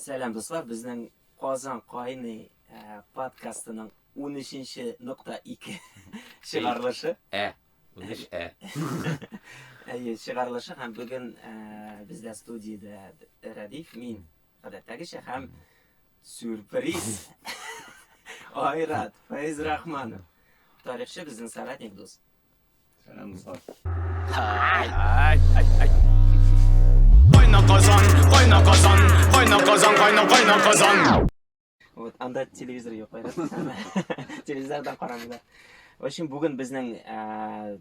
Сәлам дуслар, безнең Казан кайный подкастының унөченче нокта ике чыгарылышы. Ә, унөч ә. Әйе, чыгарылышы һәм бүген бездә студиядә Рәдиф, мин, гадәттәгечә һәм сюрприз Айрат Фәйзрахманов, тарихчы, безнең соратник дус. Сәлам, дуслар. Кайна казан, кайна казан, кайна казан, кайна кайна казан. Вот анда телевизор юк, айрат. Телевизордан карамыйлар. В общем, бүген безнең ә,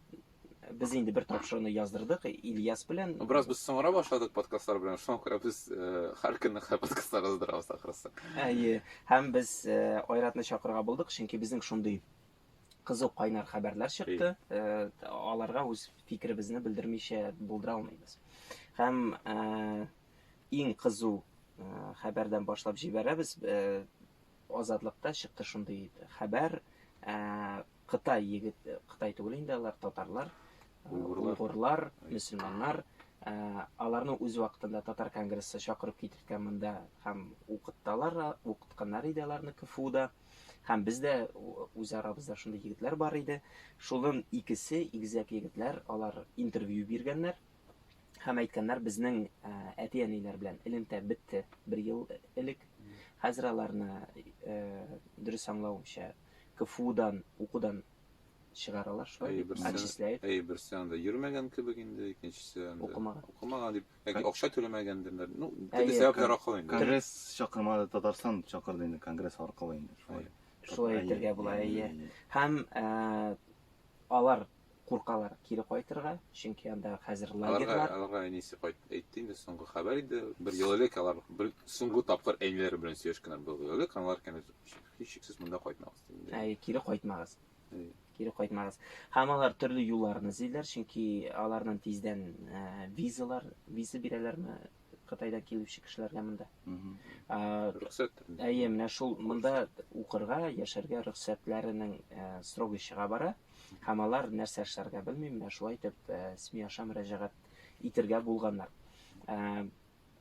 без инде бер тапшыруны яздырдык Ильяс белән. Бераз без соңра башладык подкастлар белән, шуңа күрә без э, һәр көнне хә- подкастлар яздырабыз ахрысы. Әйе, һәм без ә, Айратны чакырырга булдык, чөнки безнең шундый кызу кайнар хәбәрләр чыкты. Э, аларга үз фикеребезне белдермичә булдыра алмыйбыз. Һәм э, иң кызу э, хәбәрдән башлап җибәрәбез. Азатлыкта чыкты шундый хәбәр. Кытай егет, Кытай түгел инде алар, татарлар, уйгурлар, мөселманнар аларны үз вакытында татар конгрессы чакырып китергән монда һәм укытталар укытканнар иде аларны кфуда Һәм бездә үз арабызда шундый егетләр бар иде. Шулын икесе игезәк егетләр, алар интервью биргәннәр. Һәм әйткәннәр, безнең э, әти-әниләр белән элемтә бетте бер ел элек. Хәзер аларны э, дөрес аңлавымча КФУдан укудан чыгаралар шулай, отчисляют. Әйе, берсе анда йөрмәгән кебек инде, икенчесе анда укымаган. Укымаган дип Яки Кон- акча түләмәгәндерләр. Ну, Әйе, төрле сәбәпләр кон- аркылы инде. Конгресс чакырмады, Татарстан чакырды инде конгресс аркылы инде. Шулай. Әйе. Шулай Әйе, әйтергә була, әйе, әйе. әйе. Һәм э, алар куркалар кире кайтырга, чөнки анда хәзер Аларга, лагерьлар. аларга әнисе кайт әйтте инде соңгы хәбәр иде. Бер ел элек алар бер соңгы тапкыр әниләре белән сөйләшкәннәр бер ел элек. Алар кәнәз һичшиксез монда кайтмагыз диде. Әйе, кире кайтмагыз. кире кайтмагыз. Һәм алар төрле юлларны эзлиләр, чөнки аларның тиздән ә, визалар, виза бирәләрме Кытайдан килүче кешеләргә монда? Рөхсәт. Әйе, менә шул монда укырга, яшәргә рөхсәтләренең ә, срогы чыга бара. Һәм алар нәрсә эшләргә белми, менә шулай итеп ә, СМИ аша мөрәҗәгать итергә булганнар. Ә,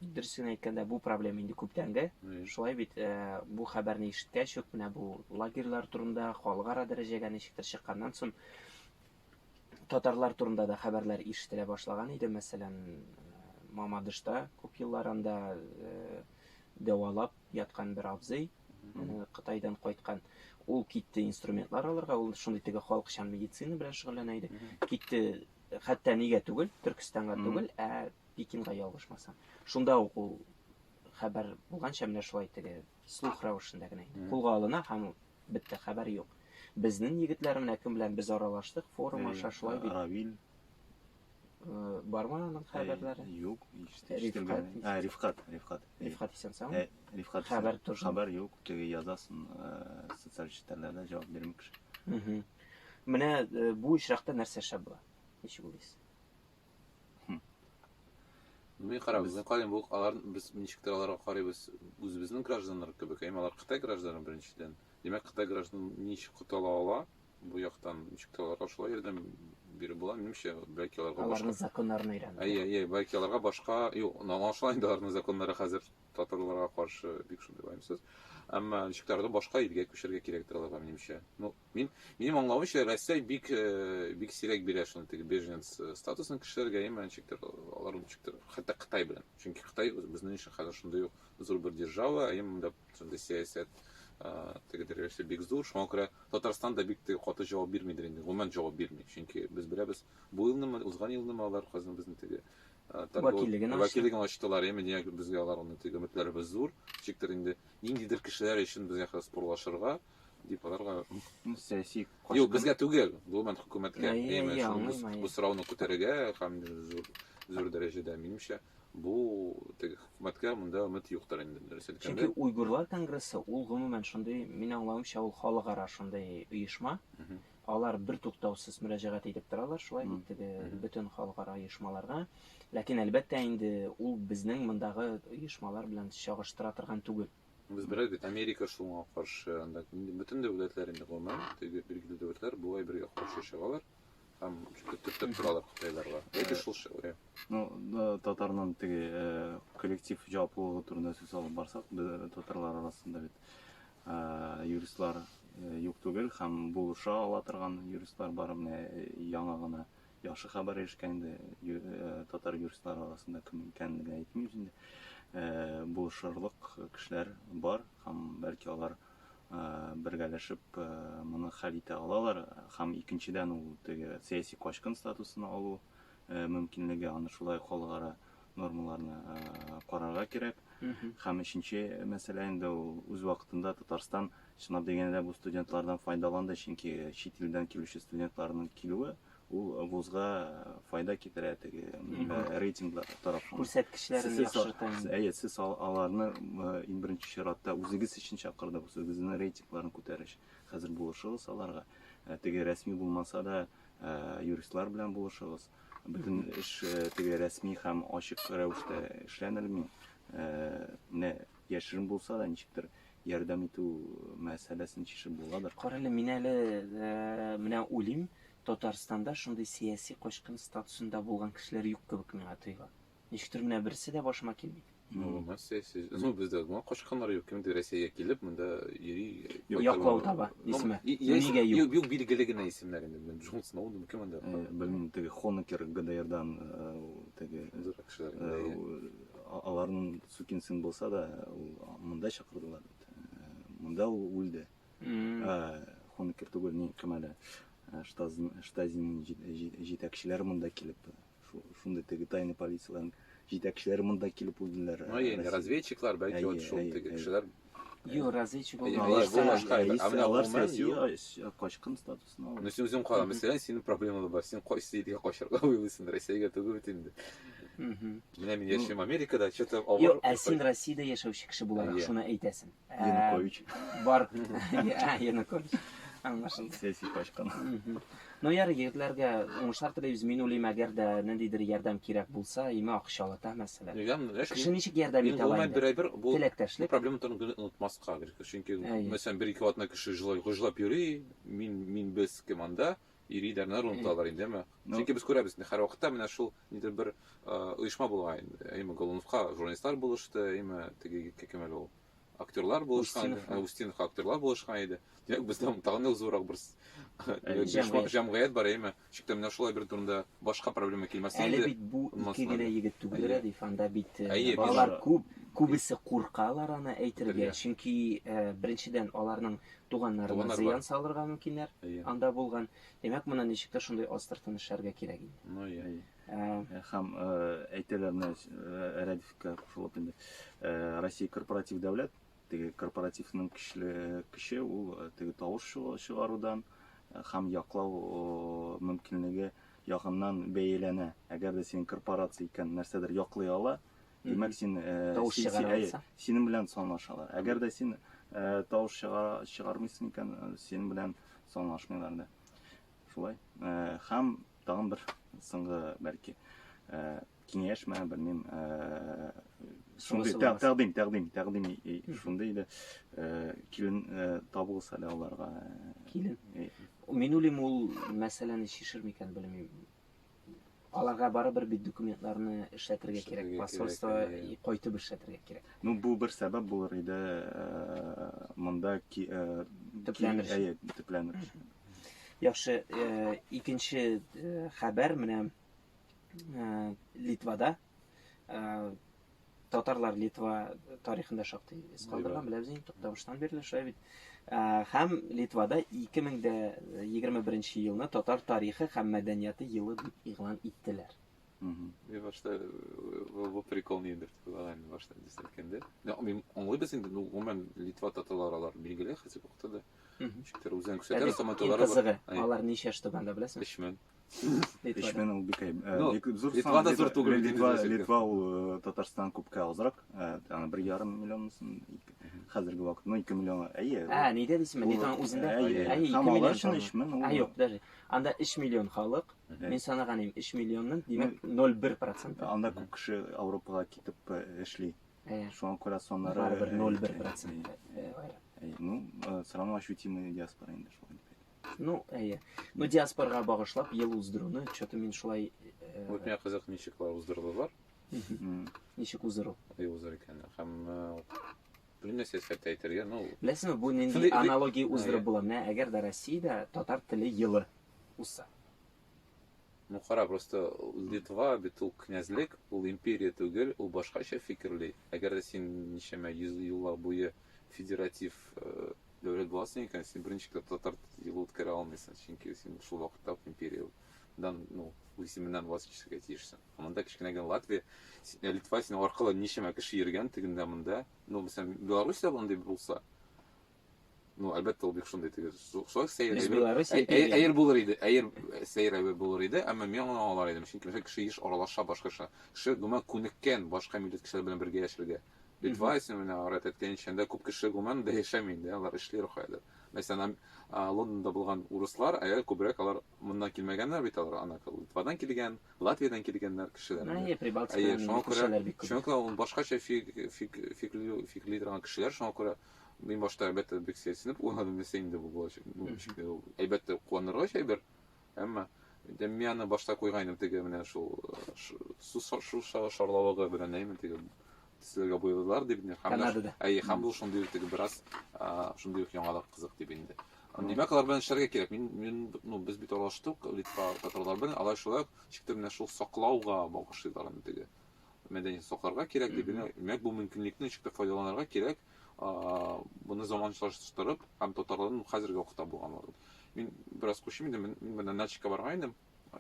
Дөресен әйткәндә, бу проблема инде күптәнге. Шулай бит, э, бу хәбәрне ишеткәч үк менә бу лагерьлар турында халыкара дәрәҗәгә ничектер чыкканнан соң татарлар турында да хәбәрләр ишетелә башлаган иде. Мәсәлән, Мамадышта күп еллар анда э, дәвалап яткан бер абзый э, Кытайдан кайткан. Ул китте инструментлар алырга, ул шундый теге халыкчан медицина белән шөгыльләнә иде. Китте, хәтта нигә түгел, Төркстанга түгел, ә Пекинга ялгышмасам. Шунда ук ул хәбәр булганча менә шулай теге слух рәвешендә генә кулга алына һәм бетте хәбәр юк. Безнең егетләр менә кем белән без аралаштык форум аша шулай бит. Равил э, бармы аның хәбәрләре? Юк, Рифкат. А, Рифкат, Рифкат. Рифкат исән сау. Э, Рифкат. Хәбәр тоже. Хәбәр юк, теге язасын э, социаль челтәрләрдә җавап бирми кеше. Менә бу очракта нәрсә шәп була? Ничек уйлыйсыз? Белмей кара, безнең кален булык, алар без ничектер аларга карыйбыз, үзебезнең гражданнар кебек, әйме алар Кытай гражданы беренчедән. Димәк, Кытай граждан ничек котыла ала, бу яктан ничек аларга шулай ярдәм биреп була, минемчә, бәлки аларга башка. Аларның законнарын өйрәнеп. Әйе, әйе, бәлки аларга башка, юк, аңлашыла инде аларның законнары хәзер татарларга каршы бик шундый ваемсыз. Әмма ничек башка илгә күчәргә кирәктер аларга, минемчә. Ну, Мин, минем аңлавымча, Россия бик, бик сирәк бирә шуны теге беженец статусын кешеләргә, яме ничектер, алар ничектер, хәтта Кытай белән. Чөнки Кытай безнең өчен хәзер шундый ук зур бер держава, ә монда шундый сәясәт, теге дәрәҗәсе бик зур. Шуңа күрә Татарстан да бик теге каты җавап бирмидер инде, гомумән җавап бирми. Чөнки без беләбез, бу елнымы, узган елнымы алар хәзер безнең теге вәкиллеген вәкиллеген ачтылар, яме нигә безгә алар аны теге өметләребез зур, ничектер инде ниндидер кешеләр өчен безгә хәзер спорлашырга. депутатларга ну, сәяси юк безгә түгел гомумән хөкүмәткә бу сорауны күтәрергә һәм зур зур дәрәҗәдә минемчә бу теге хөкүмәткә монда өмет юктыр инде дөрес әйткәндә чөнки уйгурлар конгрессы ул гомумән шундый мин аңлавымча ул халыкара шундый оешма алар бер туктаусыз мөрәҗәгать итеп торалар шулай бит теге бөтен халыкара оешмаларга ләкин әлбәттә инде ул безнең мондагы оешмалар белән чагыштыра торган түгел Без бераз бит Америка шуңа каршы, анда инде бөтен дәүләтләр инде гомумән, теге билгеле дәүләтләр болай бергә каршы чыгалар һәм төртеп торалар кытайларга. Яки шул шәүрә. Ну, да, татарның теге э, коллектив җаваплылыгы турында сүз алып барсак, бе- татарлар арасында бит э, юристлар э, юк түгел һәм булыша ала торган юристлар бар. Менә э, яңа гына Яхшы хәбәр ирешкән инде татар юристлары арасында кем икәнен генә әйтмим инде. Булышырлык кешеләр бар һәм бәлки алар бергәләшеп моны хәл итә алалар һәм икенчедән ул теге сәяси качкын статусын алу мөмкинлеге аны шулай халыкара нормаларны карарга кирәк. Һәм өченче мәсьәлә инде ул үз вакытында Татарстан Чынлап дигәндә, бу студентлардан файдаланды, чөнки чит илдән килүче студентларның килүе ул вузга файда китерә теге рейтинглар тарафыннан. Күрсәткечләрен яхшырта. Әйе, сез аларны иң беренче чиратта үзегез өчен чакырдыгыз, үзегезнең рейтингларын күтәреш. Хәзер булышыгыз аларга. Теге рәсми булмаса да, юристлар белән булышыгыз. Бөтен эш теге рәсми һәм ачык рәвештә эшләнелми. Менә Яшерен булса да, ничектер ярдәм итү мәсьәләсен чишеп буладыр. Кара әле, мин әле менә уйлыйм, Татарстанда шундый сәяси качкын статусында булган кешеләр юк кебек миңа тоела. Ничектер менә берсе дә башыма килми. Ну, у нас сәяси, ну, бездә гына качканнар юк, кемдер Рәсәйгә килеп, монда йөри. Яклау таба, исеме. Нигә юк? Юк, билгеле генә исемнәр инде, менә Джон Сноуден, кем анда? Белмим, теге Хонекер ГДРдан, теге. Зуррак кешеләр. Аларның Сукин сын булса да, ул монда чакырдылар бит. Монда ул үлде. Хонекер түгел, ни кемәле. Штазин җитәкчеләре монда килеп, шундый теге тайны полицияләрнең җитәкчеләре монда килеп үлделәр. Ну, яни разведчиклар, бәлки вот шул теге кешеләр. Юк, разведчик булмаска. Алар сәяси качкын статус. Снова. Ну, син үзең кара, мәсәлән, синең проблемалар бар. Син кайсы илгә качарга уйлыйсың? Россиягә түгел бит инде. Мгм. Менә мин яшим Америкада, что-то Юк, авыр. ә син Россиядә яшәүче кеше буларак Иә. шуны әйтәсең. Ә, Янукович. Бар. Ә, Янукович. Аңлашылды. Сәяси качкан. Мгм. Ну ярый, егетләргә уңышлар телибез. Мин уйлыйм, әгәр дә ниндидер ярдәм кирәк булса, имә акчалы та мәсәлән. Нигә? Менә Кеше шуның- ничек ярдәм Мин итә ала гомумән инде? берәйбер бу Теләктәшлек. проблема турында генә онытмаска, чөнки Әйе. мәсәлән, бер-ике атна кеше җылай, гөжләп йөри, Мин, мин, без кем анда? Ир идарнар оныталар инде, әмма. Чөнки без күрәбез, һәр вакытта менә шул нидер бер оешма булган инде. Әйме Голуновка журналистлар булышты, әйме теге егеткә кем әле ул? Актерлар булышкан, Устинов актерлар булышкан иде. Димәк, бездә тагын да зуррак бер җәмгыять бар, әйме. Чиктә менә шулай бер турында башка проблема килмәсә инде. Әле бит бу ике генә егет түгел, Рәдиф, анда бит балалар күп, күбесе куркалар аны әйтергә, чөнки беренчедән аларның туганнарына зыян салырга мөмкиннәр, анда булган, димәк моны ничектер шундый астыртын эшләргә кирәк инде. Ну я. Хәм әйтәләр менә Рәдифкә шул инде Россия корпоратив дәүләт Теге корпоративның көчле көче ул теге тавыш чыгарудан һәм яклау мөмкинлеге ягыннан бәяләнә. Әгәр дә синең корпорация икән, нәрсәдер яклый ала, димәк син тавыш чыгара аласың. Синең белән санлашалар. Әгәр дә син тавыш чыгара чыгармыйсың икән, синең белән санлашмыйлар да. Шулай. Һәм тагын бер соңгы бәлки киңәш мә белмим шундый тәкъдим тәкъдим тәкъдим шундый иде килен табыгыз әле аларга килен мин уйлыйм ул мәсьәләне чишер микән белмим аларга барыбер бит документларны эшләтергә кирәк посольство кайтып эшләтергә кирәк ну бу бер сәбәп булыр иде монда төпләнер төпләнер яхшы икенче хәбәр менә ә, Литвада ә, татарлар Литва тарихында шактый эз калдырган, беләбез инде туктамыштан бирле шулай бит. Ә, һәм Литвада 2021 елны татар тарихы һәм мәдәнияты елы дип игълан иттеләр. Мин башта э, бу прикол нидер дип уйлаган инде башта дис әйткәндә. Мин аңлыйбыз инде, ну, гомумән Литва татарлары алар билгеле хәзерге вакытта да. Ничектер үзен күрсәтә, саматылары бар. Алар ничә штабанда беләсең? 3000. Эшмен ул бик зур Литва да зур түгел. Литва, Литва ул э, Татарстан күпкә азрак. Э, аны бер ярым миллион хәзерге вакыт, ну 2 миллион. Әйе. Ә, нидә дисең? Литва үзендә. Әйе, 2 миллион. Шуны эшмен ул. Ә, юк, даже. Анда 3 миллион халык. Мин санаган идем 3 миллионның, димәк 0,1%. Анда күп кеше Европага китеп э, эшли. Шуңа күрә соннары 0,1%. Ну, срамлашутимый диаспора инде шулай. Ну, әйе. Ну, диаспорга багышлап ел уздыруны, что-то мин шулай... Э, вот миңа кызык ничек алар уздырдылар. Ничек уздыру? Ай уздыр икән. Һәм белмә сәясәттә әйтергә, ну... Беләсеңме, бу нинди аналогия уздырып була? Менә әгәр дә Россиядә татар теле елы узса. Ну кара, просто Литва бит ул князьлек, ул империя түгел, ул башкача фикерли. Әгәр дә син ничәмә йөз еллар буе федератив дәүләт буласың икән, син беренчекләп татар юлы үткәрә алмыйсың, чөнки син шул вакытта ук империядан, ну, исеменнән вазкичергә тиешсең. Ә монда кечкенә генә Латвия, э, Литва синең аркылы ничәмә кеше йөргән тегендә монда. Ну, мәсәлән, Белоруссия булган дип булса, Ну, әлбәттә, ул бик шундый теге шулай сәер Без әйбер. Беларусь Әй- әй- егетләре. Әйер булыр иде, әйер э, сәер әйбер булыр иде, әмма мин аны аңлар идем. Чөнки мәсәлән, кеше еш аралаша башка кеше. Кеше гомумән күнеккән башка милләт кешеләр белән бергә яшәргә. Литва исеме менә Арат әйткәнчә, анда күп кеше гомумән дә яшәми инде, алар эшли рухаядыр. Мәсәлән, ам- а, Лондонда булган урыслар, әле күбрәк алар моннан килмәгәннәр бит алар, ана Литвадан килгән, Латвиядән килгәннәр кешеләр. Ну, инде. и Прибалтика Әйе, шуңа күрә, кешеләр бик күп. шуңа күрә ул башкача фик, фик, фикли, фикли торган кешеләр, шуңа күрә Мин башта әлбәттә бик сәйсенеп уйладым, нәрсә инде бу булачак. Ну, ничек тә ул әлбәттә куанырга әйбер. Әмма инде мин аны башта куйгайным теге менә шул су су шарлавыгы белән әйме теге төсләргә буялар дип инде. Канадада. Әй, һәм бу шундый ук теге бераз шундый ук яңалык кызык дип инде. Димәк, алар белән эшләргә кирәк. Мин, мин, ну, без бит алаштык, Литва татарлар белән, алар шулай ук чиктә менә шул саклауга багышлыйлар аны теге. мәдәниятен сакларга кирәк, дип генә, димәк, бу мөмкинлекне ничек тә файдаланырга кирәк, моны заманчалаштырып һәм татарларның хәзерге вакытта булган вакыт. Мин бераз күчим инде, мин менә Начикка барган идем,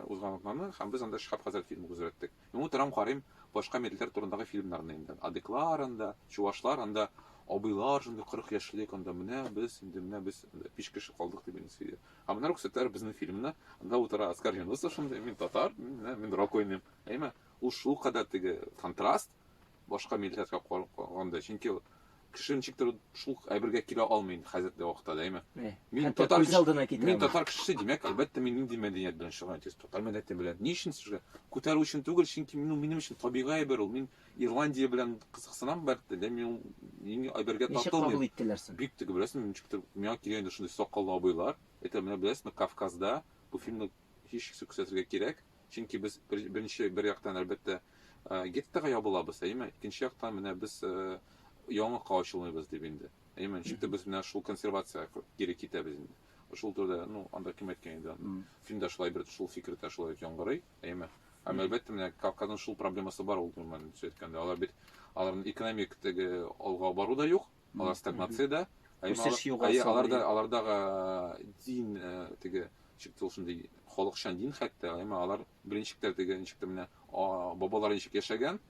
узган атнаны, һәм без анда Шиһаб хәзрәт фильмы күзәттек. Мин утырам, карыйм башка милләтләр турындагы фильмнарны инде. Адыклар анда, чувашлар анда, абыйлар шундый 40 яшьлек анда менә без инде менә без биш кеше калдык дип инде сөйли. Ә менә күрсәтәләр безнең фильмны, анда утыра Оскар Юнусов шундый, мин татар, мин, мин рок уйныйм. Әйме? Ул шулкадәр теге контраст, башка милләткә караганда, чөнки кеше ничектер шул әйбергә килә алмый инде хәзерге вакытта да, әйме? Мин татар кеше, мин татар кешесе, димәк, әлбәттә, мин нинди мәдәният белән шөгыльләнәм, тиз татар мәдәнияте белән. Ни өчен сезгә? Күтәрү өчен түгел, чөнки мин ул минем өчен табигый әйбер ул. Мин Ирландия белән кызыксынам, бәлки, дә мин мин әйбергә тату. Ничек кабул иттеләр син? Бик тә беләсең, ничектер миңа килгән инде шундый сакаллы абыйлар. Әйтә менә беләсезме, Кавказда бу фильмны һичшиксез күрсәтергә кирәк. Чөнки без беренче бер яктан, әлбәттә, геттога ябылабыз, әйеме? Икенче яктан менә без яңалыкка ачылмыйбыз дип инде. Әйеме? Ничек тә без менә шул консервациягә кире китәбез инде. Шул турыда, ну, анда кем әйткән инде аны? Фильм дә шулай бер шул фикер дә шулай дип яңгырый, әйеме? Һәм әлбәттә менә Кавказның шул проблемасы бар ул, гомумән сөйләткәндә. Алар бит аларның экономик теге алга бару да юк, алар стагнациядә. Үсеш югары. Аларда алардагы дин теге ничек ул шундый халыкчан дин хәтта, әмма алар беренче тә теге ничек тә менә бабалар ничек яшәгән,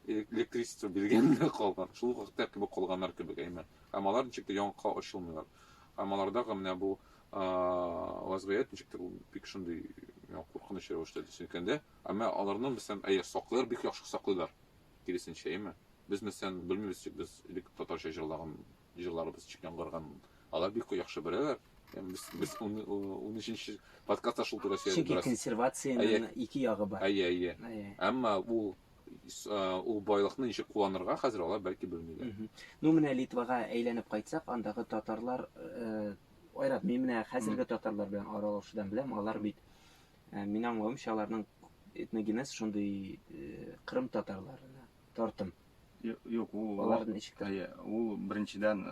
электричество биргән калган. Шул вакытта кебек калганнар кебек, әмма һәм алар ничек тә яңакка ачылмыйлар. Һәм алардагы менә бу вазгыять ничек тә бик шундый куркыныч рәвештә төшенкәндә, әмма аларны мәсәлән, әйе, саклыйлар, бик яхшы саклыйлар. Киресенчә, әйеме? Без нәрсән белмибез чик, без элек татарча җырлаган җырларыбыз чик яңгырган, алар бик яхшы беләләр. Һәм без без унөченче подкастта шул турыда сөйләдек. Чөнки консервациянең ике ягы бар. Әйе, әйе. Әмма ул ул байлыкны ничек кулланырга хәзер алар бәлки белмиләр. Ну менә Литвага әйләнеп кайтсак, андагы татарлар Айрат, мин менә хәзерге татарлар белән аралашудан беләм, алар бит Мин аңлавымча аларның этногенез шундый кырым татарларына тартым. Юк, ул алар ничек? Ул беренчедән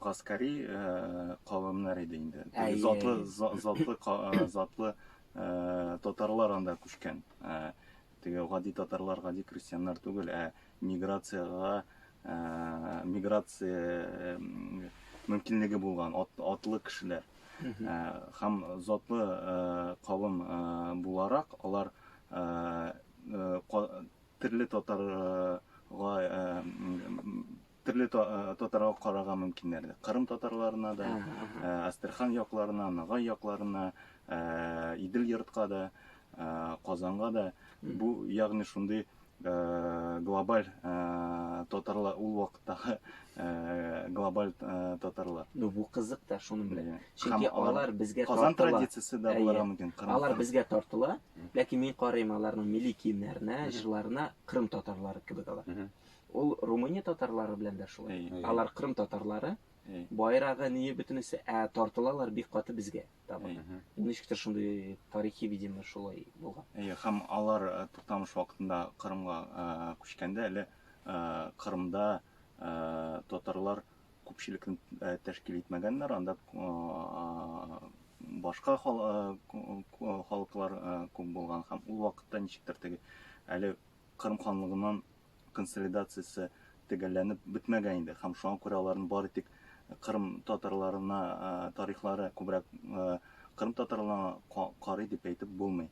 Каскари кавымнар иде инде. Затлы затлы затлы татарлар анда күчкән. Теге гади татарлар гади крестьяннар түгел, ә миграциягә миграция мөмкинлеге булган атлы кешеләр. Һәм затлы кавым буларак алар төрле татарга Төрле татарга карарга мөмкиннәр. Кырым татарларына да, Астерхан якларына, Нагай якларына, Идел йортка да, Казанга да. Бу ягъни шундый Э, глобаль э, татарлар ул вакыттагы э, глобаль татарлар ну бу кызык та шуны белән иә. чөнки алар безгә казан традициясе дә булырга иә. мөмкин алар безгә тартыла ләкин мин карыйм аларның милли киемнәренә җырларына кырым татарлары кебек алар Ул Румыния татарлары белән дә шулай. Алар Крым татарлары. Байрагы, ние бөтенесе, ә тартылалар бик каты безгә таба. Ничектер шундый тарихи, видимо, шулай булган. Әйе, һәм алар э, туктамыш вакытында Кырымга э, күчкәндә әле э, Кырымда татарлар күпчелекне тәшкил итмәгәннәр, анда башка халыклар күп булган һәм ул вакытта ничектер теге әле Кырым ханлыгыннан консолидациясе төгәлләнеп бетмәгән иде һәм шуңа күрә аларның бары тик Кырым татарларына тарихлары күбрәк Кырым татарларына карый дип әйтеп булмый.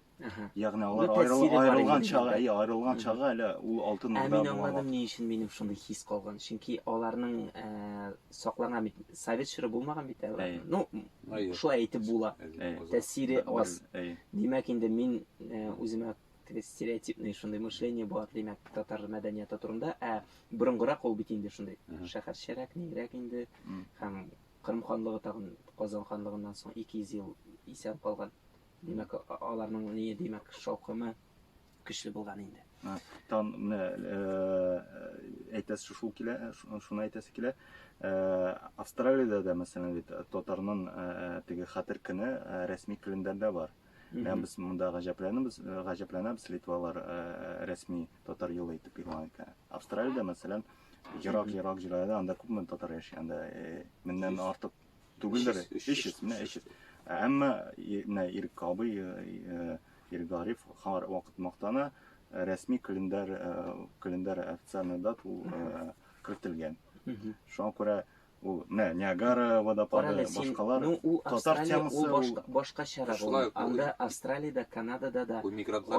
Ягъни алар аерылган чагы, әйе, аерылган чагы әле ул алтын урда. Ә мин аңладым ни өчен минем шундый хис калган. Чөнки аларның саклаган бит совет чоры булмаган бит әле. Ну, шулай әйтеп була. Тәсире аз. Димәк инде мин үземә Дөрес, стереотипный шундый мышление бар, димәк, татар мәдәнияты турында. Ә борынгырак ул бит инде шундый. Шәһәрчәрәк, нигрәк инде. Һәм Кырым ханлыгы тагын Казан ханлыгыннан соң 200 ел исән калган. Димәк, аларның ни, димәк, шаукымы көчле булган инде. Тан менә э, әйтәсе шул килә, шуны әйтәсе килә. Э, Австралиядә дә, мәсәлән, бит татарның э, теге хәтер көне рәсми календарьдә бар. Ә без монда гаҗәпләнәбез, гаҗәпләнәбез литвалар рәсми татар юлы итеп игълан иткән. Австралиядә, мәсәлән, ерак-ерак җирләрдә анда күпме татар яши, анда меңнән артык түгелдер, 300, менә 300. Әмма менә Ирек абый, Ирек Гариф һәр вакыт мактана, рәсми календарь, календарь официальный дат ул кертелгән. Шуңа күрә Ул менә Ниагара водопады, башкалар. Ну, ул Австралия, ул башка, башка чара булды. Анда Австралиядә, Канадада да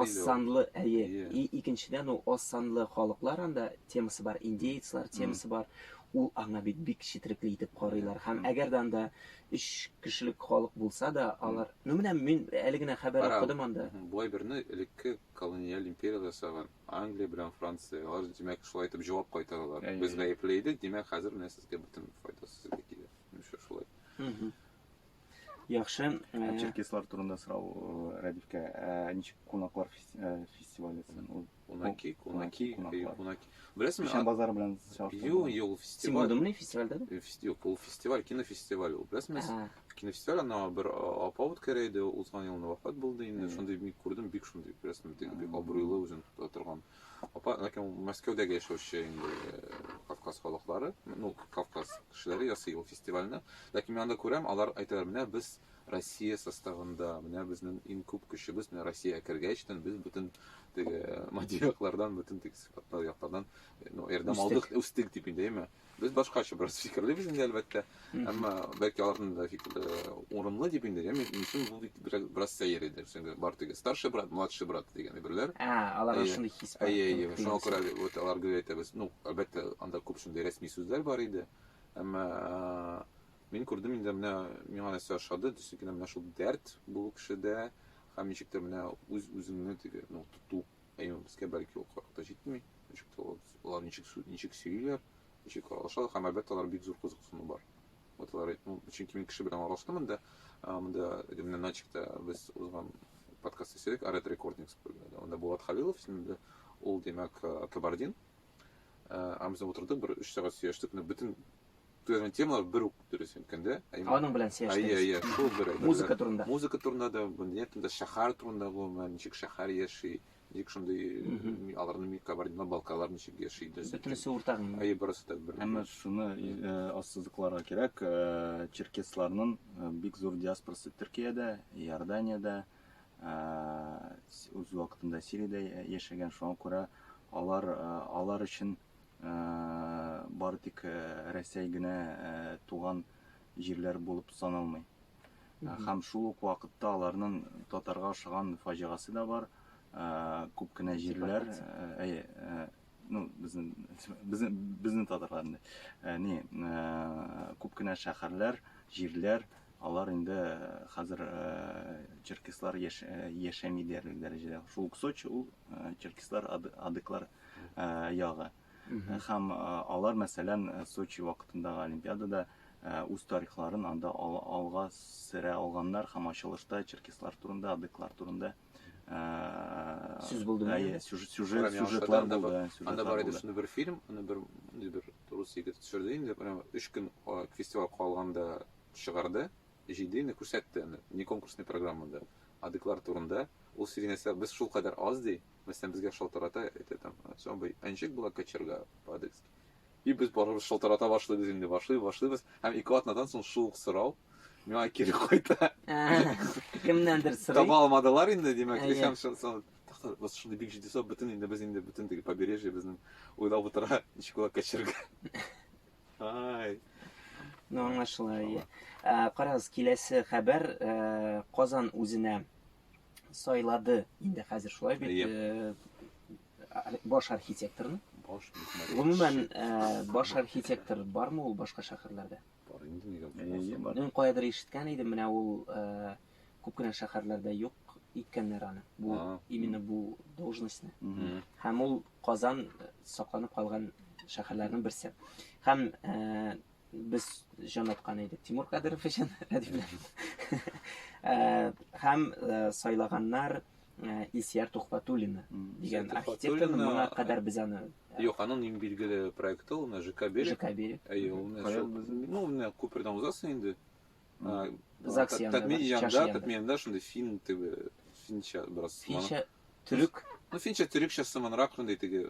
аз санлы, әйе. И икенчедән ул аз санлы халыклар анда темасы бар, индеецлар темасы бар. Ул аңа бит бик четерекле итеп карыйлар. Һәм әгәр дә анда 3 кешелек халык булса да, алар, ну менә мин әле генә хәбәр укыдым анда. Бу әйберне элекке колониаль империяләр ясаган. Англия белән Франция, алар димәк шулай итеп җавап кайтаралар. Без гаепле идек, димәк хәзер менә сезгә бөтен файда сезгә килә. Нишләп шулай? Яхшы. Ә Черкеслар турында сорау э, Рәдифкә. Ә ничек кунаклар фес- э, фестивале сен- ул? Кунаки, кунаки, кунаклар. кунаки. Беләсеңме? Печән базары белән Юк, чагыштырганда. юк, ул Син фестиваль. булдыңмы фестивальдә? Э, фести- Юк, ул фестиваль, кинофестиваль ул. Беләсеңме? Ә. Кинәштә гына бер апа үткәрә иде, узган елны вафат булды инде. Шундый бик күрдем, бик шундый рәсем бик бик абруйлы үзен тота торган. Апа, ләкин ул Мәскәүдәге яшәүче инде э, Кавказ халыклары, ну, Кавказ кешеләре ясый ул фестивальне. Ләкин мин анда күрәм, алар әйтәләр, менә без Россия составында, менә безнең иң күп көчебез, менә Россиягә кергәчтен без бөтен теге матди яклардан, бөтен теге сыйфатлы яклардан, э, ну, ярдәм Үстек. алдык, үстек дип инде, әйме? Без башкача бераз фикерлибез инде, әлбәттә. Әмма бәлки аларның да фикерләре урынлы дип инде. Яме мисен бу бит бераз сәер иде. Чөнки бар теге старший брат, младший брат дигән әйберләр. А, аларга шундый хис бар. Әйе, әйе. Шуңа күрә вот алар гел әйтәбез. Ну, әлбәттә, анда күп шундый рәсми сүзләр бар иде. Әмма мин күрдем инде менә миңа нәрсә ошады, төсекенә менә шул дәрт бу кешедә һәм ничектер менә үз-үзеңне теге, ну, тоту Әйе, безгә бәлки ул кырык та җитми, ничек тә алар ничек сүз, ничек сөйлиләр, ничек аралашалар, һәм әлбәттә алар бик зур кызыксыну бар. Вот алар, ну, чөнки мин кеше белән аралаштым инде, монда Римнән начикта без узган подкаст исәдек, Арет Рекордингс, анда Булат Халилов исемле, ул, димәк, Кабардин, Амза утырды, бер 3 сәгать сөйләштек, но бөтен төзелгән темалар бер үк дөрес әйткәндә. Аның белән сөйләштек. Әйе, әйе, шул бер. Музыка турында. Музыка турында да, дөнья турында, шәһәр турында гомумән, ничек шәһәр яши, ничек шундый аларның мик кабардино балкалар ничек яши. Бөтенесе уртак. Әйе, барысы да бер. Әмма шуны ассызыкларга кирәк, черкесларның бик зур диаспорасы Төркиядә, Иорданиядә, Иорданиядә үз вакытында Сириядә яшәгән, шуңа күрә алар алар өчен бары тик Рәсәй генә туган җирләр булып саналмый. Һәм шул ук вакытта аларның татарга ошаган фаҗигасы да бар. Күп кенә җирләр, әйе, ну безнең безнең безнең татарларны э, не э, күп кенә шәһәрләр җирләр алар инде э, хәзер черкеслар яшәми диярлек дәрәҗәдә шул ук сочи ул черкеслар адыклар ягы һәм алар мәсәлән сочи вакытындагы олимпиадада үз тарихларын анда алга сөрә алганнар һәм ачылышта черкеслар турында адыклар турында сүз булды әйе сюжет сюжет сюжетлар булды анда бар иде шундай бер фильм аны бер бер рус егете төшерде инде прям өч көн фестиваль калганда чыгарды җыйды инде күрсәтте аны не конкурсный программада адыклар турында ул сөйли нәрсә без шул кадәр аз ди мәсәлән безгә шалтырата әйтә там самый әнҗек была кочерга по-адыгски И без барыбыз шалтырата башлыйбыз инде, башлый, башлыйбыз, һәм ике атнадан соң шул ук сорау миңа кире кайта. Кемнәндер сорый. Таба алмадылар инде, димәк, һәм шул вот что бик җитди сорап бөтен инде без инде бөтен теге побережье безнең уйлап утыра ничек була качырга ай ну аңлашыла ие карагыз киләсе хәбәр казан үзенә сайлады инде хәзер шулай бит Баш архитекторны? Баш мөхмәт. Гомумән, баш архитектор бармы ул башка шәһәрләрдә? Бар инде нигә булмасын. Мин каядыр ишеткән идем, менә ул күп кенә шәһәрләрдә юк иткәннәр аны. Бу именно бу должностьны. Һәм ул Казан сакланып калган шәһәрләрнең берсе. Һәм Без җан аткан идек Тимур Кадыров өчен, әдипләрбез. Һәм сайлаганнар Ильсияр Тухбатуллина дигән архитекторны моңа кадәр без аны Юк, аның иң билгеле проекты ул менә ЖК Берег. ЖК Берег. Әйе, ул менә шул. Ну, менә күпердән узасың инде. ЗАГС янында. Татмин янында, Татмин янында шундый фин теге финча бераз. Финча төрек. Ну, финча төрекчә сыманрак шундый теге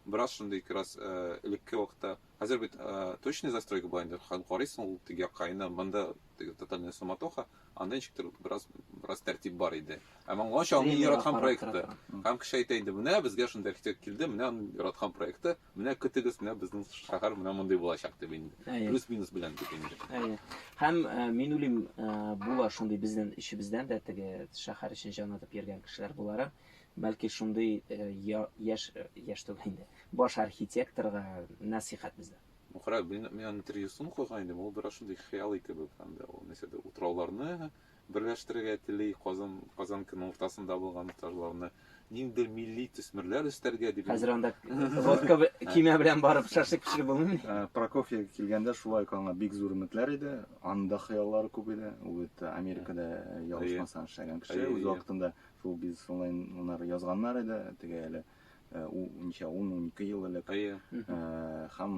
Бераз шундый кераз элекке вакытта, хәзер бит точный застройка була инде, һәм карыйсың ул теге якка инде, монда теге тотальная суматоха, анда ничек тер бераз бераз тәртип бар иде. Ә моңа чагын яраткан проекты. Һәм кеше әйтә иде, менә безгә шундый архитектор килде, менә аның яраткан проекты, менә көтегез, менә безнең шәһәр менә мондый булачак дип инде. Плюс-минус белән дип инде. Әйе. Һәм мин уйлыйм, була шундый безнең эчебездән дә теге шәһәр эчен җанлатып йөргән кешеләр буларак. Бәлки шундый яшь, яшь түгел инде, баш архитекторга нәсыйхәт бездән. Мухрак, мин, мин аны интервьюсын укыган идем, ул бераз шундый хыялый кебек, анда ул нәрсә дә, утрауларны берләштерергә тели, Казан, Казанканың уртасында булган утрауларны, ниндидер милли төсмерләр өстәргә дип. Хәзер анда водка кимә белән барып шашлык пешереп булмыймы? Э, Прокофьев килгәндә шулай ук аңа бик зур өметләр иде, анда хыяллары күп иде, ул бит Америкада э, ялгышмасам эшләгән кеше, үз вакытында Шул бизнес онлайннар язганнар иде, теге әле ничә 10-12 ел элек. Һәм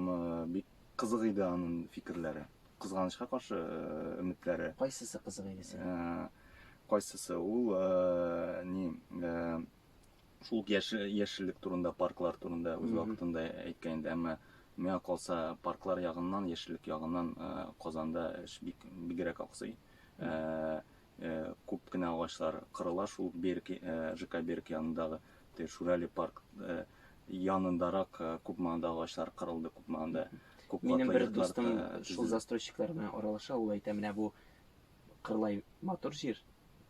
бик кызык иде аның фикерләре. Кызганычка каршы өметләре. Кайсысы кызык иде сиңа? Кайсысы? Ул ни шул яшеллек турында, парклар турында үз вакытында әйткән иде, әмма миңа калса парклар ягыннан, яшеллек ягыннан Казанда эш бик бигрәк аксый. Күп кенә агачлар кырыла шул Берк, ЖК Берк янындагы теге Шурали парк янындарак күп маңда агачлар кырылды, күп маңда. Күп Минем бер дустым шул застройщиклар белән аралаша, ул әйтә, менә бу кырлай матур җир,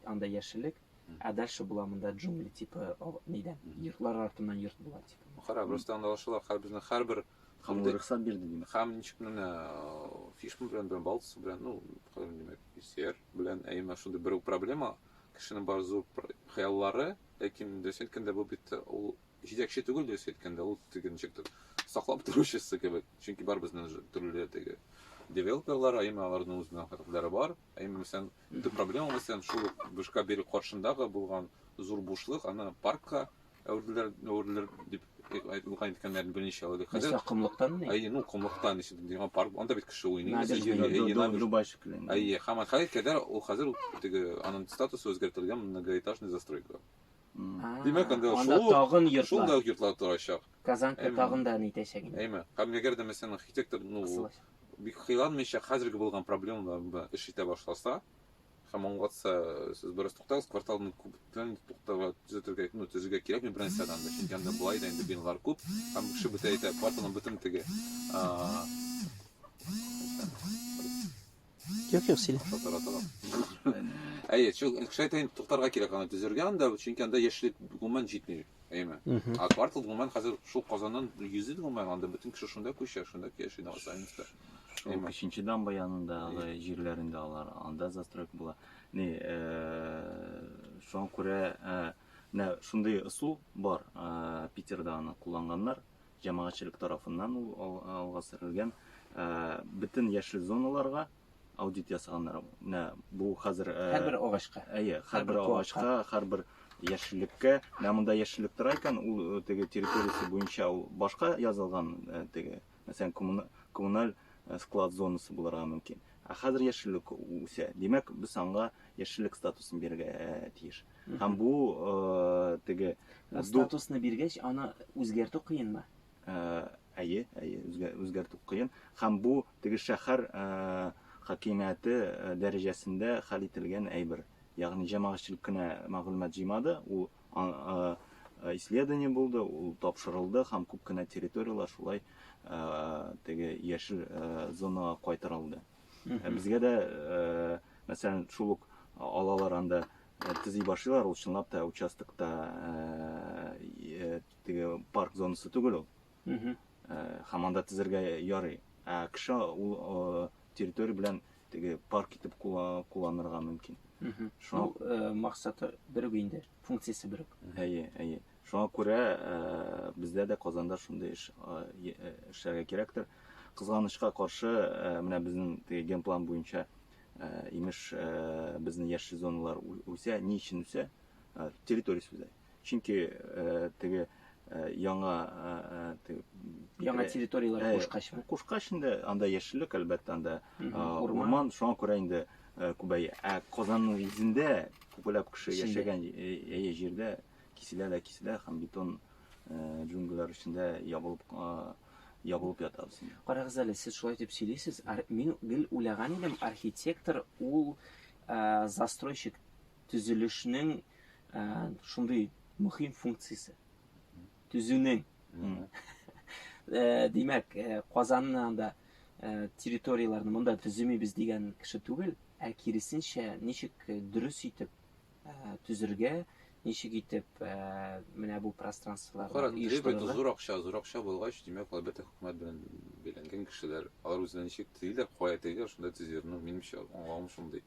анда яшеллек, ә дальше була монда джунгли типы нидән, йортлар артыннан йорт була типа. Кара, просто анда ашыла, һәр безнең һәрбер Һәм Ул рөхсәт бирде, димәк. Һәм ничек менә Фишман белән белән Балц белән, ну, хәзер димәк, Сер белән ә именно шундый бер проблема, кешенең бар зур хыяллары, ләкин дөрес әйткәндә бу бит ул җитәкче түгел дөрес әйткәндә, ул теге ничектер саклап торучысы кебек. Чөнки бар безнең төрле теге девелоперлар, ә именно аларның үзенең хәрәкәтләре бар. Ә именно мәсәлән, төп проблема мәсәлән шул бушка бирү каршындагы булган зур бушлык, аны паркка Әүрделәр, әүрделәр дип укыган иткәннәрен берничә алды. Хәзер Нәрсә комлыктан ни? Әйе, ну комлыктан ишет дигән парк. Анда бит кеше уйный. Нәдер Әйе, әйе, дигән набережная. Дубай шикелле. Әйе, һәм хәзер кадәр ул хәзер теге аның статусы үзгәртелгән многоэтажный застройка. А, Димәк, анда анда шул- тагын йортлар. Шунда ук йортлар торачак. Казанка Әйме. тагын да ни итәчәк инде. Әйме. Һәм әгәр дә мәсәлән архитектор ну Кысылачак. бик кыйланмыйча хәзерге булган проблемалар белән эш итә башласа, Һәм аңлатса, сез дөрес туктагыз, кварталны күптән туктарга төзәтергә, ну, төзергә кирәкми беренче адымда. Чөнки анда болай да инде биналар күп, һәм кеше бөтә әйтә, кварталның бөтен теге. а, Юк, юк, сөйлә. Татара тора. Әйе, чү- кеше әйтә инде туктарга кирәк аны төзергә анда, чөнки анда яшьлек гомумән җитми. Әйме. Мгм. А квартал гомумән хәзер шул Казаннан йөзит гомумән анда бөтен кеше шунда күчә, шунда яши Новосаменскта. Һәм кеченче дамба янындагы җирләрендә алар анда застройка була. Ни, шуңа күрә менә шундый ысул бар. Питерда аны кулланганнар. Җәмәгатьчелек тарафыннан ул алга сөрелгән. Бөтен яшел зоналарга аудит ясаганнар. Менә бу хәзер һәрбер агачка. Әйе, һәрбер агачка, һәрбер яшеллеккә. Менә монда яшеллек тора икән, ул теге территориясе буенча ул башка язылган теге Мәсәлән, коммуналь склад зонасы булырга мөмкин. Ә хәзер яшеллек үсә. Димәк, без аңга яшеллек статусын бирергә тиеш. Һәм бу теге статусны биргәч, аны үзгәртү кыенмы? Әйе, әйе, үзгәртү кыен. Һәм бу теге шәһәр хакимияте дәрәҗәсендә хәл ителгән әйбер. Ягъни җәмәгатьчелек кенә мәгълүмат җыймады, ул Исследование булды, ул тапшырылды һәм күп кенә территорияләр шулай теге яшел зонага кайтарылды. Безгә дә, мәсәлән, шул ук алалар анда төзи башлыйлар, ул чынлап та участокта теге парк зонасы түгел ул. һәм анда тезергә ярый. Ә кеше ул территория белән теге парк итеп кулланырга мөмкин. Шуңа ну, максаты бер үк инде, функциясе бер үк. Әйе, әйе. Шуңа күрә бездә дә Казанда шундый эш эшләргә кирәктер. Кызганычка каршы, менә безнең теге генплан буенча имеш безнең яшел зоналар үсә, ни өчен үсә? Территориясе үзәк. Чөнки теге яңа яңа территорияләр кушкач кушкач инде анда яшеллек әлбәттә анда урман шуңа күрә инде күбәя ә казанның үзендә күпләп кеше яшәгән әйе җирдә киселә дә киселә һәм бетон джунглилар эчендә ябылып ябылып ятабыз карагыз әле сез шулай дип сөйлисез мин гел уйлаган идем архитектор ул застройщик Төзелешнең ә, шундый мөһим функциясе. Төзүнең. Э, димәк, э, Казанны анда э, территорияләрне монда төземибез дигән кеше түгел, ә киресенчә, ничек дөрес итеп төзергә, ничек итеп менә бу пространстволарны Кара, требует зур акча, зур акча булгач, димәк, әлбәттә, хөкүмәт белән бәйләнгән кешеләр, алар үзләре ничек төзиләр, кая тегеләр, шунда төзиләр. Ну, минемчә, аңлавым шундый.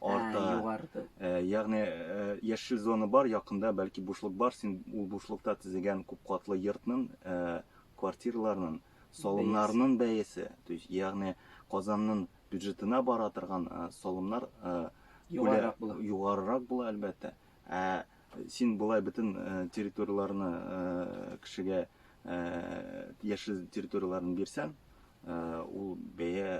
арта. Ә, югарды. Ә, ягъни ә, яшел зона бар, якында бәлки бушлык бар, син ул бушлыкта төзегән күп катлы йортның, ә, квартираларның, салымнарның бәясе, то есть ягъни Казанның бюджетына бара торган ә, салымнар ә, югарырак була. Югарырак була әлбәттә. Ә Син болай бөтен территорияләрне кешегә яшел территорияләрен бирсәң, ул бәя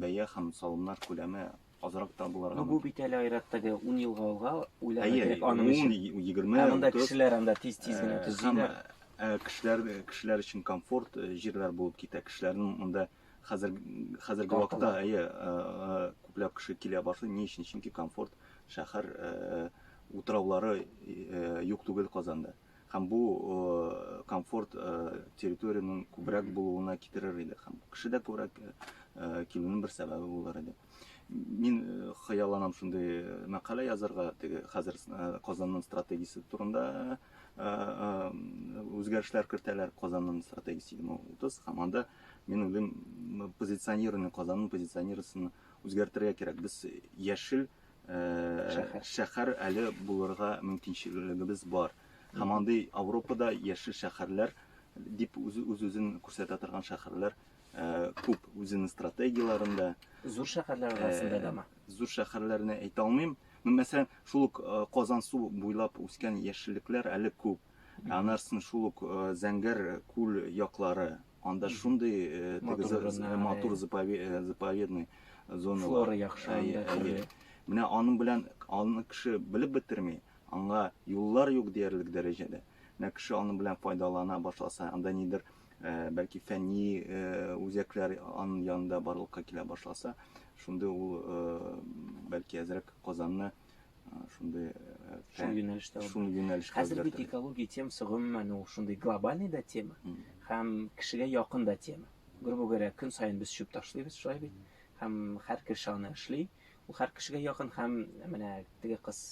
бәя һәм салымнар күләме азрак та булырга. Ну, бу бит әле айраттагы 10 елга алга уйларга кирәк аның өчен. 20 Ә монда кешеләр анда тиз-тиз генә төзиләр. Кешеләр кешеләр өчен комфорт җирләр булып китә. Кешеләрнең монда Хәзер хәзерге вакытта әйе күпләп кеше килә башлый. Ни өчен? Чөнки комфорт шәһәр утраулары юк түгел Казанда. Һәм бу комфорт территориянең күбрәк булуына китерер иде. Һәм кеше дә күбрәк килүнең бер сәбәбе булыр иде. Мин э, хыялланам шундый э, мәкалә язарга, теге хәзер э, Казанның стратегиясе турында үзгәрешләр кертәләр Казанның стратегиясе 2030 һәм анда мин уйлыйм позиционирование Казанның позиционированиесен үзгәртергә кирәк. Без яшел шәһәр, шәһәр әле булырга мөмкинчелегебез бар. Һәм андый Европада яшел шәһәрләр дип үз-үзен күрсәтә торган шәһәрләр Күп үзенең стратегияләрендә. Зур шәһәрләр арасында да ма? Зур шәһәрләрне әйтә алмыйм. Ну, мәсәлән, шул ук Казан су буйлап үскән яшеллекләр әле күп. Анарсын шул ук Зәңгәр күл яклары. Анда шундый матур заповедный зона. Флора яхшы анда төрле. Менә аның белән аны кеше белеп бетерми. Аңа юллар юк диярлек дәрәҗәдә. Менә кеше аның белән файдалана башласа, анда нидер бәлки фәнни үзәкләр ан янында барлыкка килә башласа, шундый ул бәлки әзрәк Казанны шундый шул юнәлештә шул юнәлешкә хәзер бит экология темасы гомумән ул шундый глобальный да тема һәм кешегә якын да тема грубо говоря көн саен без чүп ташлыйбыз шулай бит һәм һәр кеше аны эшли ул һәр кешегә якын һәм менә теге кыз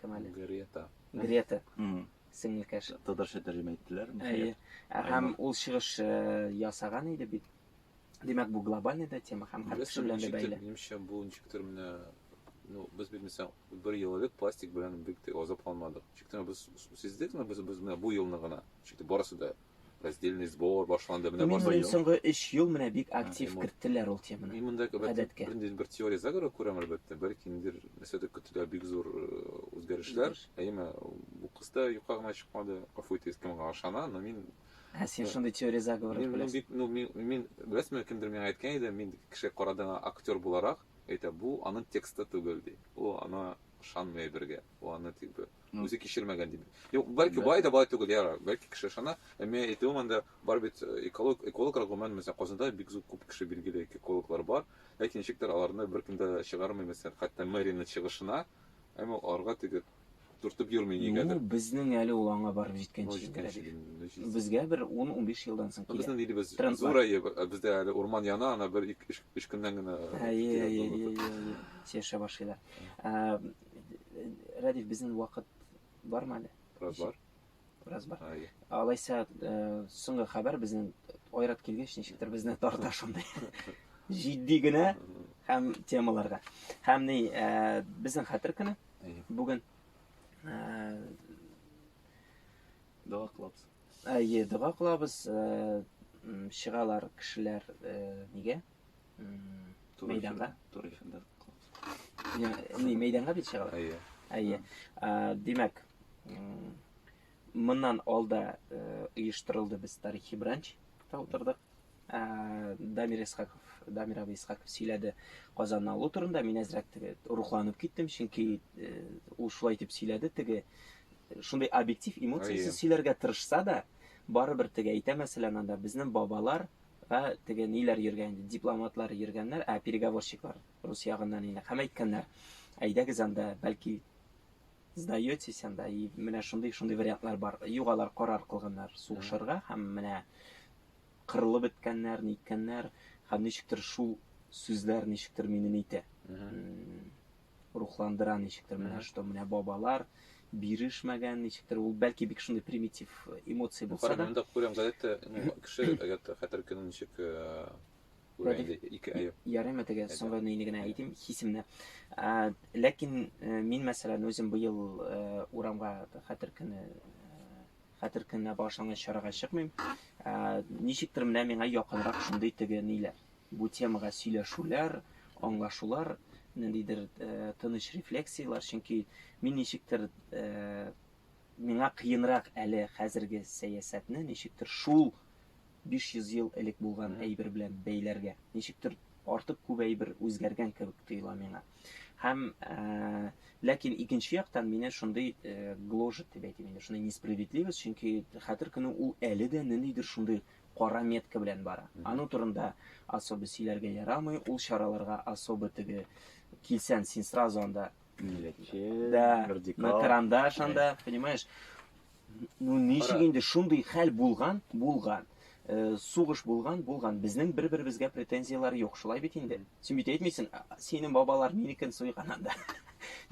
кем әле грета грета сеңелкәш. Татарча тәрҗемә иттеләр. Әйе. Ә һәм ул чыгыш ясаган иде бит. Димәк, бу глобальный да тема һәм һәр кеше белән дә бәйле. Минемчә, бу ничектер менә ну, без бит мисал бер ел элек пластик белән бик тә азапланмадык. Чиктә без сиздек, но без без менә бу елны гына. Чиктә барысы да Раздельный сбор башланды, менә башлаган. Мин соңгы 3 ел менә бик актив керттеләр ул теманы. Мин монда гадәткә. Бердән бер теория загора күрәм әлбәттә, бәлки ниндер нәрсәдә көтелә бик зур э, үзгәрешләр. Әйме, бу кыз да юкка гына чыкмады. Гафу итегез, кемгә ышана, но мин Ә син шундый теория заговор беләсең. Мин бик, ну, мин, мин беләсезме, кемдер миңа әйткән иде, мин кеше карадыгы актер буларак, әйтә, бу аның тексты түгел ди. Ул ана ышанмый бергә. Ул аны тик бер үзе кичермәгән дип. Юк, бәлки бай да бай түгел, яра, бәлки кеше ышана. Ә мин әйтүем анда бар бит э, эколог, экологлар гомумән, мәсәлән, Казанда бик зур күп кеше билгеле экологлар бар. Ләкин ничектер аларны беркем дә чыгармый, мәсәлән, хәтта мэрияның чыгышына, әмма аларга теге төртеп йөрми нигәдер. Ну, безнең әле ул аңа барып җиткәнче. Җиткәнче. Безгә бер 10-15 елдан соң килә. Безнең илебез зур әйе, э, бездә әле урман яна, ана бер 3 көннән генә. Әйе, әйе, әйе, әйе. Яшәп башлыйлар. Э, Радив, безнең вакыт бармы әле? Бераз бар. Бераз бар. Алайса, э, соңгы хәбәр безнең Айрат килгәч, ничектер безне тарта шундый. Җитди генә һәм темаларга. Һәм ни, э, безнең хәтер көне бүген э, дога кылабыз. Әйе, дога кылабыз. Чыгалар кешеләр нигә? мәйданга туры эфирда не мәйданга бит чыга әйе әйе димәк моннан алда оештырылды без тарихи бранч та утырдык дамир исхаков дамир абый исхаков сөйләде казанны алу турында мин әзрәк теге рухланып киттем чөнки ул шулай итеп сөйләде теге шундый объектив эмоциясез сөйләргә тырышса да барыбер теге әйтә мәсәлән анда безнең бабалар Ә теге ниләр йөргән инде, дипломатлар йөргәннәр, ә переговорщиклар рус ягыннан инде. Һәм әйткәннәр, әйдәгез анда, бәлки сдаетесь анда, и менә шундый, шундый вариантлар бар. Юк, алар карар кылганнар сугышырга һәм менә кырылып беткәннәр, ниткәннәр, һәм ничектер шул сүзләр ничектер мине нитә. рухландыра ничектер менә Мгм. что менә бабалар бирешмәгән ничектер ул бәлки бик шундый примитив эмоция Ну, булса карап, да мында күрәм газетта, ну, кеше, әгәр дә хәтер көнен ничек э, күрә Рәдиф, инде, ике әйе. Ярый мә теге Әйдә. соңгы нейне генә Әйдә. әйтим, хисемне. Ә, Ләкин э, мин мәсәлән үзем быел э, урамга хәтер көне э, хәтер көненә багышланган чарага чыкмыйм. Ә, Ничектер менә миңа якынрак шундый теге ниләр. Бу темага сөйләшүләр, аңлашулар, ниндидер тыныч рефлексияләр, чөнки мин ничектер миңа кыенрак әле хәзерге сәясәтне ничектер шул 500 ел элек булган әйбер белән бәйләргә. Ничектер артык күп әйбер үзгәргән кебек тоела миңа. Һәм ләкин икенче яктан мине шундый гложет дип әйтим инде, шундый несправедливость, чөнки хәтер көне ул әле дә ниндидер шундый кара метка белән бара. Аның турында особо сөйләргә ярамый, ул чараларга особо теге килсән, син сразу анда милләтче, да, радикал, на карандаш анда, понимаешь? Ну, ничек инде шундый хәл булган, булган. Э, сугыш булган, булган. Безнең бер-беребезгә претензияләр юк, шулай бит инде. Син бит әйтмисең, синең бабалар минекен суйган анда.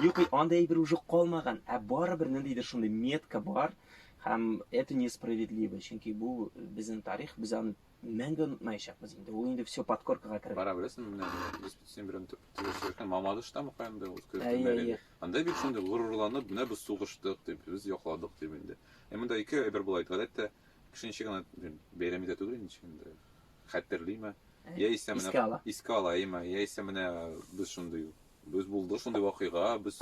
Юк, анда әйбер уже калмаган, ә барыбер ниндидер шундый метка бар, Һәм это несправедливо, чөнки бу безнең тарих, без аны мәңге онытмаячакбыз инде. Ул инде все подкоркага керде. Бара беләсең, менә без син белән сөйләшкән Мамадышта мөгаен дә үз көтелмәгән. Анда бит инде горурланып, менә без сугыштык дип, без якладык дип инде. Ә монда ике әйбер була иде. Гадәттә кеше ничек генә бәйрәм итә түгел ничек инде. Хәтерлиме? Яисә менә искә ала. Искә ала, яисә менә без шундый Без булды шундый вакыйга, без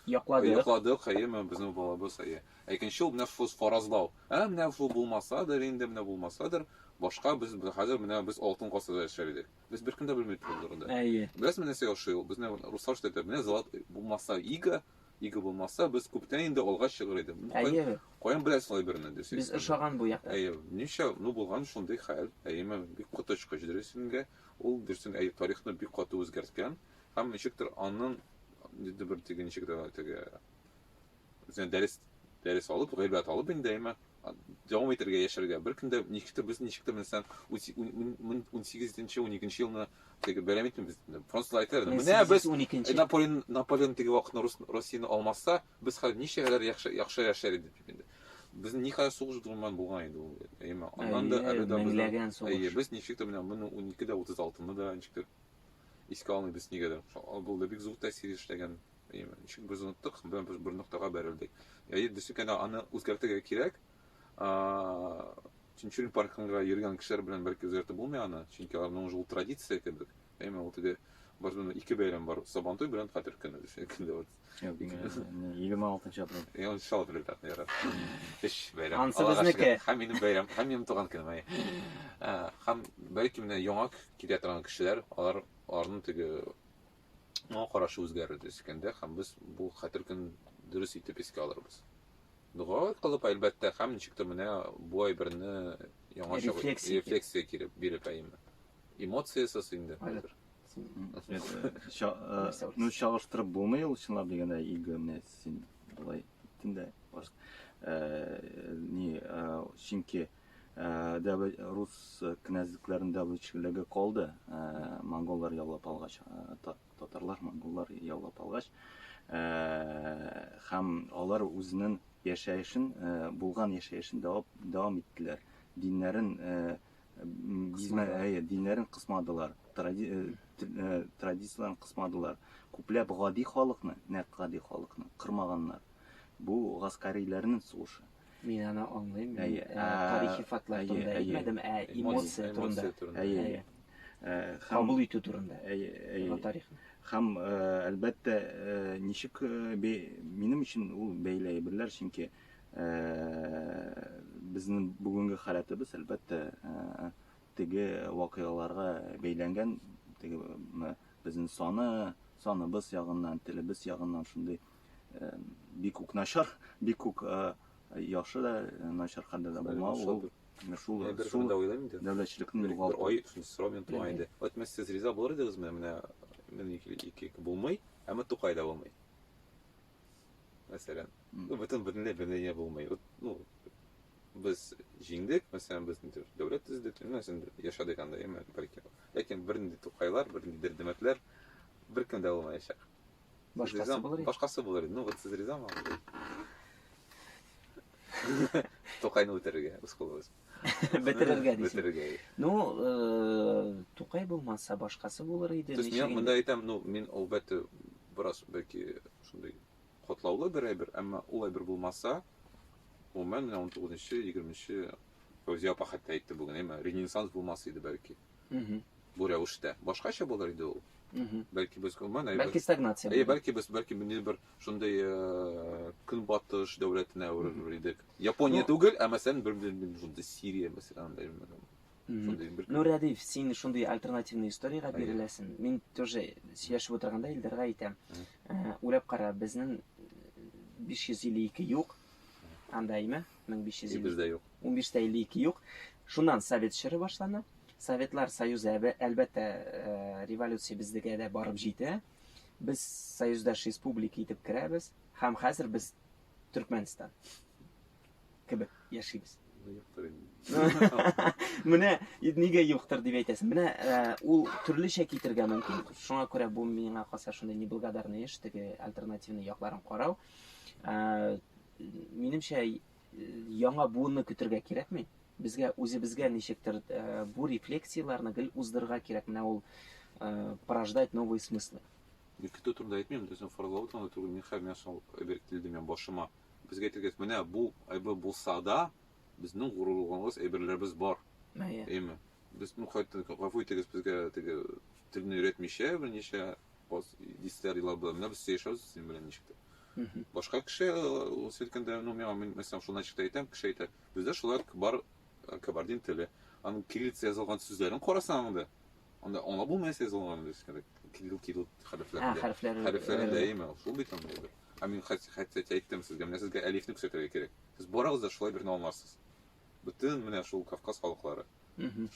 якладык. Якладык, әйе, менә безнең балабыз, әйе. Икенче ул менә шул фаразлау. Ә менә шул булмасадыр, инде менә булмасадыр, башка без хәзер менә без алтын гасырда яшәр идек. Без беркем дә белми торды турында. Әйе. Без менә нәрсә яши ул? Без менә руслар что менә золот булмаса ига, ига булмаса, без күптән инде алга чыгыр идек. Ну, әйе. Каян беләсең алай берне дөрес. Без ошаган бу якта. Әйе. Ничә, ну булган шундый хәл. Әйеме, бик коточкыч дөресенгә. Ул дөресен әйтеп тарихны бик каты үзгәрткән һәм ничектер анын инде бер теге ничек дә теге үзенә дәрес дәрес алып, гыйбрәт алып инде әйме дәвам итәргә яшәргә. Бер көндә ничектер без ничектер белсәң 18-12 елны теге бәйрәм итмибез. Французлар әйтә, менә без 12 Наполеон Наполеон теге вакытны Россияне алмаса, без хәзер ничә яхшы яхшы яшәр идек дип инде. Без никадәр сугыш дурман булган иде ул, әйеме? Аннан да әле дә меңләгән сугыш. Әйе, без ничек тә менә моны 12 дә 36-ны да ничек тә искә алмыйбыз нигәдер. Ул да бик зур тәэсир эшләгән. Әйеме? Ничек без оныттык, без бер, бер ноктага бәрелдек. Әйе, дөрес икән, аны үзгәртергә кирәк. Тинчурин паркында йөргән кешеләр белән бәлки үзгәртеп булмый аны, чөнки аларның уже ул традиция кебек. Әмма ул теге барда да ике бәйрәм бар. Сабантуй белән Хәтер көне дисә көндә вот. 26 апрель. Я он чал апрель так ярат. Эш бәйрәм. Ансы безнеке. Һәм минем бәйрәм, һәм минем туган көнем. Ай. Һәм бәлки менә яңа китә торган кешеләр, алар аларның теге моңа карашы үзгәрер дисә көндә, һәм без бу Хәтер көн дөрес итеп искә алырбыз. Дуга кылып, әлбәттә, һәм ничектер менә бу әйберне яңа рефлексия киреп биреп әйме. Эмоциясез инде хәзер. Ну, чагыштырып булмый ул чынлап дигәндә иго менә син болай иттең дә не чөнки рус князьлекләрен дәвләтчелеге калды монголлар яулап алгач татарлар монголлар яулап алгач һәм алар үзенең яшәешен булган яшәешен дәвам иттеләр диннәрен Әйе, диннәрен кысмадылар, традицияләрен кысмадылар. Күпләп гади халыкны, нәкъ гади халыкны кырмаганнар. Бу гаскариләрнең сугышы. Мин аны аңлыйм. Әйе, тарихи фактлар турында әйтмәдем, ә эмоция турында. Әйе. Кабул итү турында. Әйе, әйе. Тарих. Хәм, әлбәттә, ничек минем өчен ул бәйләй берләр, чөнки Безнең бүгенге халәтебез, әлбәттә, теге вакыйгаларга бәйләнгән, теге безнең саны, саныбыз ягыннан, телебез ягыннан шундый бик үк начар, бик үк яхшы да, начар хәлдә дә булмау ул. Шул бер шул да уйлыйм инде. Дәүләтчелекне югалту. Ай, шул сорау мен туа инде. Әйтмәс сез риза булыр идегезме? Менә мен ике булмый, әмма Тукай да булмый. Мәсәлән, ну, бөтен бөтенләй белене булмый. Вот, ну, без җиңдек, мәсәлән, без нидер дәүләт төздек, ну, мәсәлән, яшәдек анда, яме, бәлки. Ләкин бер нинди тукайлар, бер нинди дердемәтләр беркем дә булмаячак. Башкасы булыр. Башкасы булыр. Ну, вот сез ризамы? Тукайны үтерергә, үз кулыбыз. Бетерергә дисең. Бетерергә. Ну, э, Тукай булмаса, башкасы булыр иде. Сез мин монда әйтәм, ну, мин әлбәттә бераз бәлки шундый котлаулы бер әйбер, әмма ул әйбер булмаса, гомумән менә 19-нчы, 20-нче Фәүзия апа хәтта әйтте бүген, әмма ренессанс булмас иде бәлки. Бу рәвештә. Башкача булыр иде ул. Бәлки без гомумән әйбер. Бәлки стагнация. Әйе, бәлки без бәлки бер шундый э, көнбатыш дәүләтенә әверелер идек. Япония түгел, ә мәсәлән, бер бер шундый Сирия мәсәлән, андай шундый бер. Ну, Рәдиф, син шундый альтернативный историягә биреләсен. Мин тоже сөйләшеп утырганда Илдарга әйтәм. Э, уйлап кара, безнең 552 юк. Анда име? 1552. Бездә юк. 15-тә 52 юк. Шуннан совет чоры башлана. Советлар Союзы әлбәттә э, революция бездегә дә барып җитә. Без союздаш республика итеп керәбез һәм хәзер без Төркмәнстан кебек яшибез. Менә нигә юктыр дип әйтәсең. Менә э, ул төрлечә китергә мөмкин. Шуңа күрә бу миңа калса шундый неблагодарный эш, теге альтернативный якларын карау. Э, минемчә, Яңа буынны көтергә кирәкми. Безгә үзебезгә ничектер бу рефлексияләрне гел уздырырга кирәк. Менә ул порождать новые смыслы. Мин көтү турында әйтмим, дөресен фаразлау турында түгел. Мин хәер, миңа шул әйбер килде миңа башыма. Безгә әйтергә, менә бу әйбер булса да, безнең горурланганыбыз әйберләребез бар. Әйе. Әйме? Без ну кайтты, гафу итегез, безгә теге телне өйрәтмичә, берничә вот дистәр еллар була менә без сөйләшәбез синең белән ничек дип башка кеше ул сөйткәндә ну миңа мин мәсәлән шуны ничек тә әйтәм кеше әйтә бездә шулай бар кабардин теле аның кириллица язылган сүзләрен карасаң анда анда аңлап булмый нәрсә язылган дискәдә кирилл кирилл хәрефләрендә хәрефләре хәрефләрендә әйме шул бит анда инде ә мин хәтта әйттем сезгә менә сезгә әлифне күрсәтергә кирәк сез барыгыз да шулай берне аңларсыз бөтен менә шул кавказ халыклары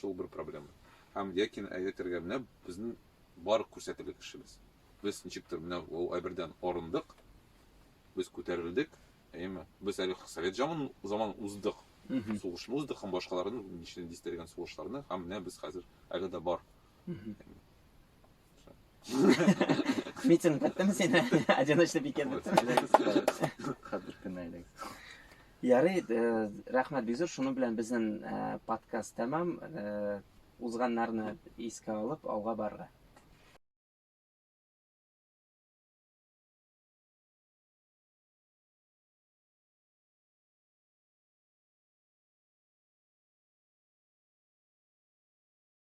шул бер проблема һәм якин әйтергә менә безнең бар күрсәтерлек кешебез. Без ничектер менә ул әйбердән арындык, без күтәрелдек, әйеме? Без әле совет заман заман уздык, сугышны уздык һәм башкаларны ничек дистергән сугышларны һәм менә без хәзер әле дә бар. Митинг беттеме син? Одиночный пикет беттеме? Хәзер кенә әле. Ярый, э, рәхмәт бик зур. Шуның белән безнең э, подкаст тәмам. Э, Узганнарны искә алып, алга барырга.